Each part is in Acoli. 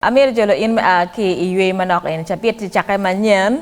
Amyero jolo in me a ki i ywey manok eni cabit i cake manyen,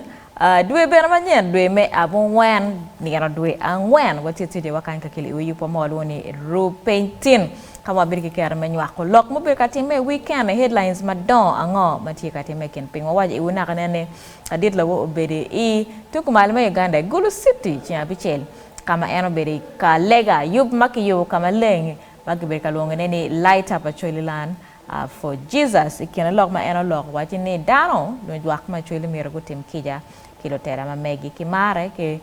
dwe bene manyen, dwe me abungwen, nino dwe angwen, wati tidi wakany kakeli iwi yub wa ma walwongo ni Rub Piny Tin, ka ma wabedo ki kero me nywako lok mubedo ka timme i wikene, headlines madongo ango ma tye ka timme i kin piny. Wawaco iwu naka nen ni Adit Lowo obedo i tuku malo me Uganda i Gulu City ceng abicel ka ma en obedo i ka lega yub ma kiyubo ka maleng ma kibedo ka lwongone ni Light Up Acholi Land A For Jesus, i kine lok ma en oloko, wacci ni dano, lujwak ma cwelo myero gutim kica ki lutela ma megi, ki marre, ki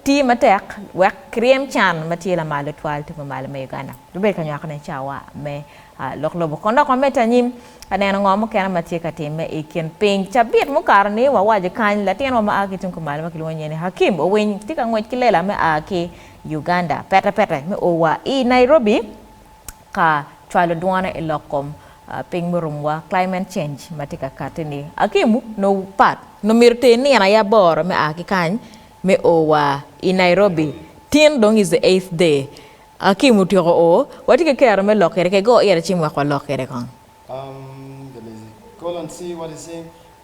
ti matek wek kiryem can ma tye lamal tutwal tung pa malo me Uganda. Gibed ka nywako ne cawa me lok lobo. Kon dok wamed ta anyim ka neno ngo mukene ma tye ka timme i kin piny. Cabit mukato ni wawaco kany, latinwa ma a ki tung kumalo ma kilwongo nyinge ni Hakim Owiny tye ka ngwec ki lela me a ki Uganda pete pete me o wa i Nairobi, ka cwalo dwone i lok kom piny murumwa, climate change, ma tye ka katti ni. Hakim nongo pat nongo myero ter nino aye aboro me a ki kany me o wa i Nairobi. Tin dong is the eighth day Hakim otyeko o, watye ki kero me lok kede kege o ira ci mwek walok kede kong.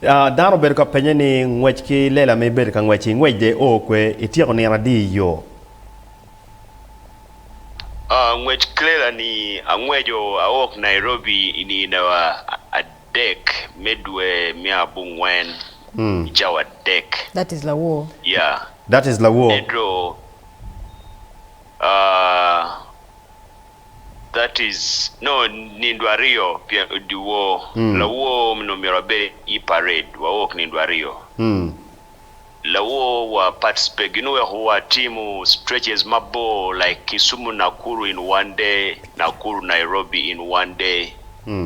Dano obedo ka penye ni, Ngwec ki lela ma ibedo ka ngwec-ci, ingwec dye oo kwe? Ityeko nino adi i yo? Ngwec ki lela-ni, Angweco awok Nairobi i nino adek me dwe me abongwen i cawa adek. That is lawor. Ento. that is nongo nindo aryo pien dyewor lawor mi nongo myero abed i parade wa work nindo aryo lawor wa participate gin weko wa timo stretches mabor like Kisumu Nakuru in one day Nakuru Nairobi in one day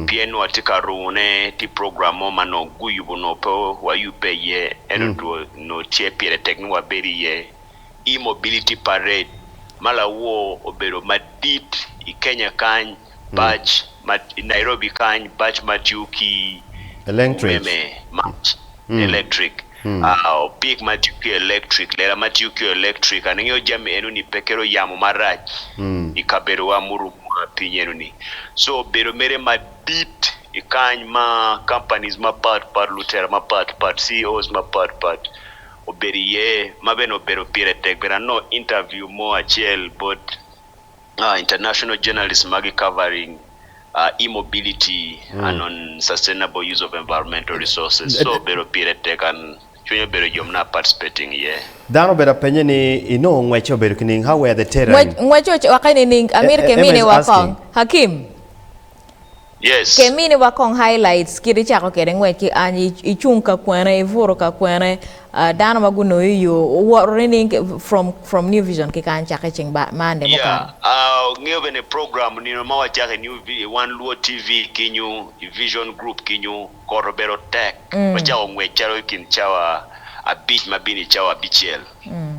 pien wa tye ka rungo ne tye program mo ma nongo guyubo nongo pe wa yubbe iye ento two nongo tye pire tek ni wa bed iye i Mobility Parade ma lawor obedo madit i Kenya kany, bac ma i Nairobi kany, bac ma tiyo ki umeme, mac, electric, opik ma tiyo ki electric, lela ma tiyo ki electric. An angeyo jami eno-ni pe kelo yamo marac i kabedowa murumowa piny eno-ni. So obedo mere madit i kany ma companies mapat pat, lutela mapat pat, CEOs mapat pat obedo iye ma bene obedo pire tek bene anongo interview mo acel bot international journalist magi covering immobility and on sustainable use of environmental resources so obedo pire tek and cwiny obedo yom na participating iye. Dano obedo apenye ni inongo ngwecce obedo kining how were the terrain? Ngwec ocokke nining? Amito kemine wa kong. Hakim. Yes. Ke mini wa kong highlights kit icako kede ngwec ki anyi icung ka kwene ibuto ka kwene ah, dano ma gunongo i yo owoto nining from from New Vision ki kany cake ceng ba Monday Yeah, mukalo. ah, ngeyo bene program nino ma wacako i New Vi- i One Luo TV kinyu, i Vision Group kinyu, kot obedo tek. Mm. Wacako ngwec calo i kin cawa abic ma bini cawa abicel. Mm.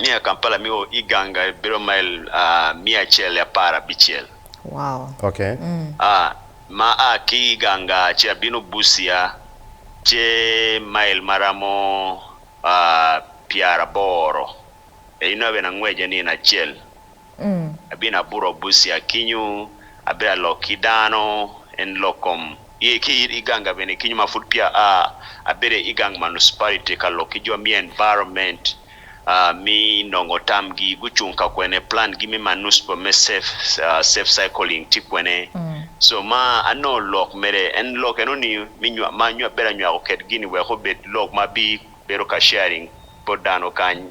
Miya Kampala me o i ganga bedo mail miya acel i apar abicel. Ma a ki i ganga ce abino Busia ce mail ma ramo pyeraboro. Inno bene angwece nino acel. Abinabuto Abusia kinyu, abedo alok ki dano, en lok kom, i ki i gang ga bene kinyu ma pud peya aa, abedo i gang Municipality ka lok ki jo me environment me nongo tam gi gucung ka kwene, plan gi me Municiple me safe cycling tye kwene, so ma anongo lok mere, en lok eno ni me ma abedo anywako kwed gi ni wek obed lok ma bi bedo ka sharing bot dano kany.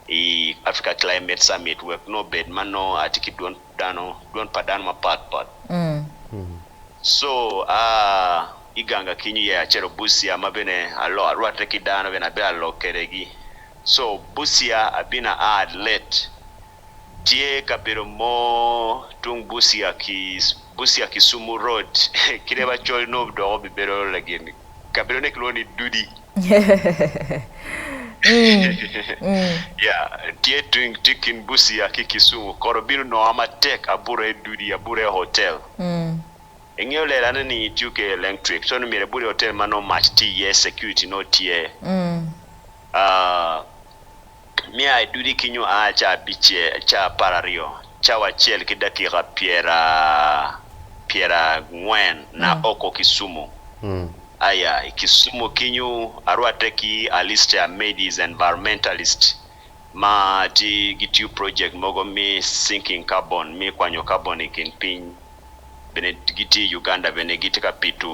i Africa Climate Summit wek nongo obed ma nongo atye ki dwon dano, dwon pa dano mapat pat. Co a i ganga ki New Year acito Busia ma bene alo arwatte ki dano bene abe alok kwede gi. Co Busia abino aa Adlet, tye kabedo mo tung Busia ki Busia Kisumu Road kit ma col nongo dok obibedo lagin kabedone kilwongo ni Dudi. Tye tung tye kin Busia ki Kisumu. Kot obino nonga matek abuta i Dudi abuta i hotel. Ingeyo lela ne ni tiyo ki elenctric so ni myero ibuta i hotel ma nongo mac tye iye security nongo tye. Me a i dudi ki nyo a ca abice, ca apararyo, cawa acel ki dakika pyera pyera ngwen na oko Kisumu. Aya i Kisumu kinyu arwatte ki Alistair Madies environmentalist ma tye gitiyo project mogo me sinking carbon me kwanyo carbon i kin piny bene gitye i Uganda bene gitye ka pito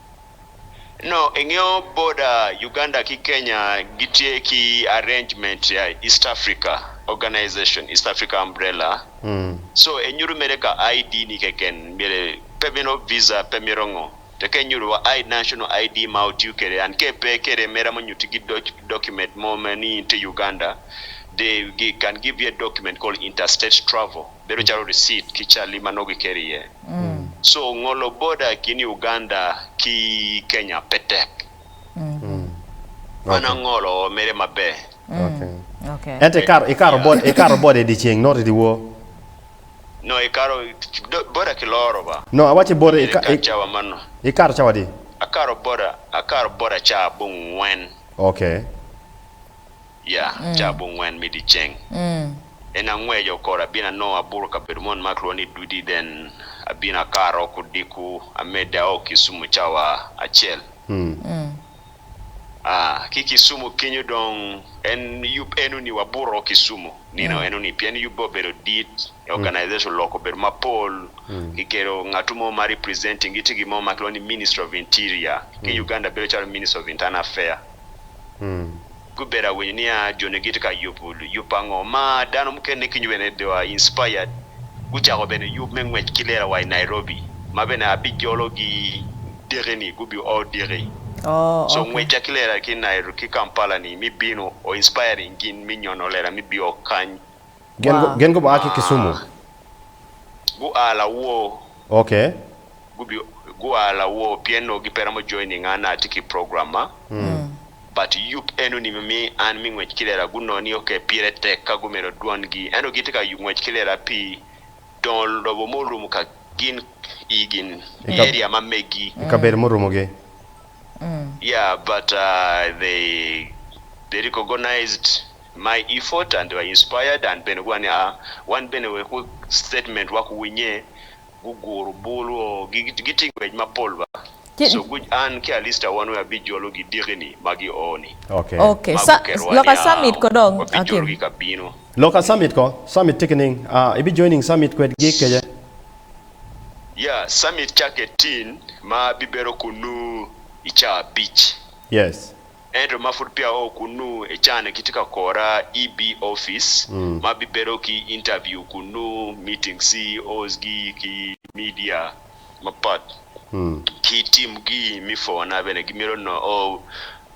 No, ingeyo border Uganda ki Kenya gitye ki arrangement ya East Africa organization, East Africa umbrella, so enyuto mere ka ID ni keken myero pe mito visa pe mito ngo to ka inyuto wa I national ID ma otiyo kwede and ka ipe kwede mere amo nyuti gi document mo ma ni in tye Uganda they can give you a document called interstate travel bedo calo receipt ki cali ma nongo giketo iye. So ngolo boda i kin Uganda ki Kenya pe tek. Mana ngolo mere maber. Ento ikato boda i dye ceng not i dye wor? No, ikato boda kiloro ba. No, awaci boda ikato cawa adi? Akato boda, akato boda caa abongwen. Okay. Ya, caa abongwen me dyeceng, en angweco kore, abino anongo aburo kabedo mo ma kilwongo ni Dudi, then abino akaro ki odiko, amedde ao Kisumu cawa acel. Aa, ki Kisumu kenyo dong, en yub eno-ni wabuto Kisumu nino eno-ni, pien yubbe obedo dit, organization oloko obedo mapol, kikelo ngatu mo ma representing gi tye gin mo ma kilwongo ni Ministry of Interior, ki Uganda bedo calo Ministry of Internal Affair. gubedo awinyo nia joni gitye ka yubo yub ango ma dano mukene kinyo bene they were inspired gucako bene yub me ngwec ki lela wa i Nairobi ma bene abijolo gi diki ni gubi o diki so ngwecca ki lela ki Kampala ni mi bino o inspiring gin me nyono lela me bio kany Gin gua ki Kisumu? Gua lawor. Okay. Gua lawor pien onongo gipe romo joining an atye ki program ma but yub enoni me mi an me ngwec ki lela gunongo ni okay pire tek ka gumedo dwon gi ento gitye ka yub ngwec ki lela pi dongo lobo murumo ka gin i gin area ma megi. I kabedo murumo gi. Yeah but they they recognized my effort and they were inspired and bene guwaco ni aa wan bene wek statement wa kuwinye guguro bul o gitye ngwec mapol ba so guc an ki Alista wan weng abijolo gidiki ni ma gi oo ni ma guketo wa ni aa wabijolo gi ka bino. Loka summit ko, summit tye kining? Aa ibi joining summit kwed gi kece? Ya, Summit cakke tin ma abibedo kunnu i caa abic. Yes. Ento ma pud peya oo kunnu e caa-ni kitye ka kora i bee office ma abibedo ki interview kunnu, meeting CEOs gi ki media mapat ki team gi me four na bene gimito noo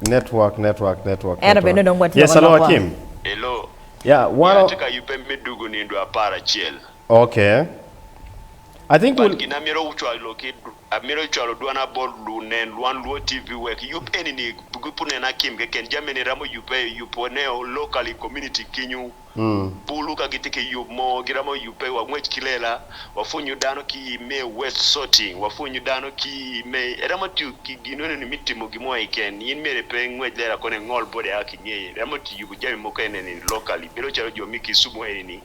Network network network Ento bene network dong watye yes ka alo lok wa. akim Hello. yeah Nyo one o atye ka yubbe me dugo nindo apar acel. okay I think But we'll gin amyero cwalo ki amyero cwalo dwana bot lu nen lwan luo TV wek yub eni ni gupu nen akim keken jami eni ramo yubbe yub one o locally community kinyu. Bulu ka gitye ki yub mo, giromo yubbe. Wangwec ki lela, wapwonyo dano ki i me west sorting, wapwonyo dano ki i me iromo tiyo ki gin eno ni me timo gin mo keken. In myero pe ingwec lela kono ingol bot ea ki ngeye. Iromo tiyo yubo jami mogo ene ni locally. Bedo calo jo me Kisumu eni ni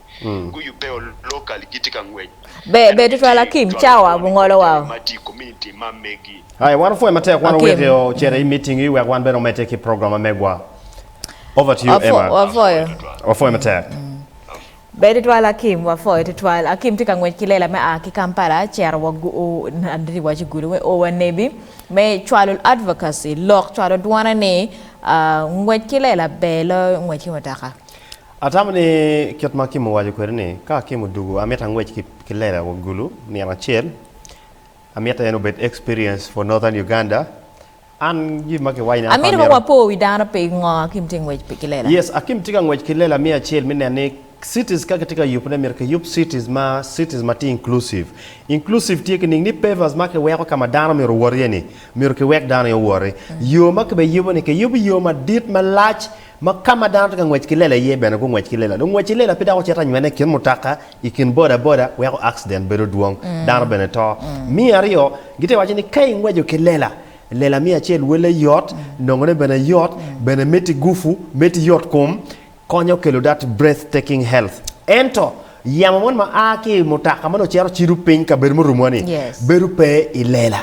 guyubbe o locally gitye ka ngwec. Ento gitye jo lupwony i kom jami ma tye i community ma megi. Aye, wan wapwonyo matek. Wan waweko ocito i meeting-ngi wek wan bene omedde ki program ma megwa. Over to you Emma. Wafoyo. Wafoyo matek. Ber tutwal Akim, wafoyo tutwal. Akim tye ka ngwec ki lela me a ki Kampala cito wa aditi waco gudo me o wa Nebi me cwalo advocacy lok cwalo dwone ni ngwec ki lela ber loyo ngwec ki mutoka. Atamo ni kit ma Akim owaco kwede ni ka Akim odugu amito angwec ki lela wa gulu nino acel amito en obed experience for northern Uganda. Amito kong wapo wi dano pe ngo Akim tye ngwec ki lela. Yes Akim tye ka ngwec ki lela me acel me neno ni cities ka kitye ka yubo ne myero kiyub cities ma cities ma tye inclusive. Inclusive tye ki ning ni pavers ma kiweko ka ma dano myero owot iye ni myero kiwek dano aye owot iye. Yo ma kibiyubo ni kiyubo yo madit malac Ma ka ma dano tye ka ngwec ki lela iye bene gungwec ki lela. Lungweci lela pe dok ocito anywene i kin mutoka, i kin bodaboda weko akciden bedo dwong, dano bene to. Me aryo, gitye ka waco ni ka ingweco ki lela, lela miyo acel welle yot, nongone bene yot, bene meti gupu, meti yotkom, konyo kelo that breathtaking health. Ento, yamo moni ma a ki i mutoka ma nongo cito cido piny kabedo murumowa-ni, bedo pe i lela.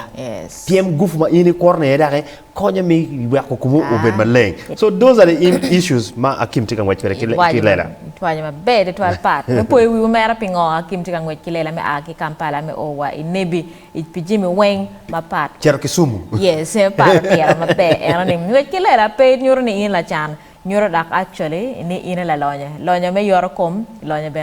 Pyem gupu ma in ikworone iye daki. Konya me weko komu obed maleng. So those are the issues ma Akim tye ka ngwec kwede ki lela. Itwaco maber tutwal part me poyo wiwu mere pingo Akim tye ka ngwec ki lela me a ki Kampala me o wa i Nebi i pi jami weng ma pat. Cito Kisumu. Yes, me pat otiro maber eno ni ngwec ki lela pe nyuto ni in lacan, nyuto dok actually ni in i lalonyo. Lonyo me yorokom, lonyo bene.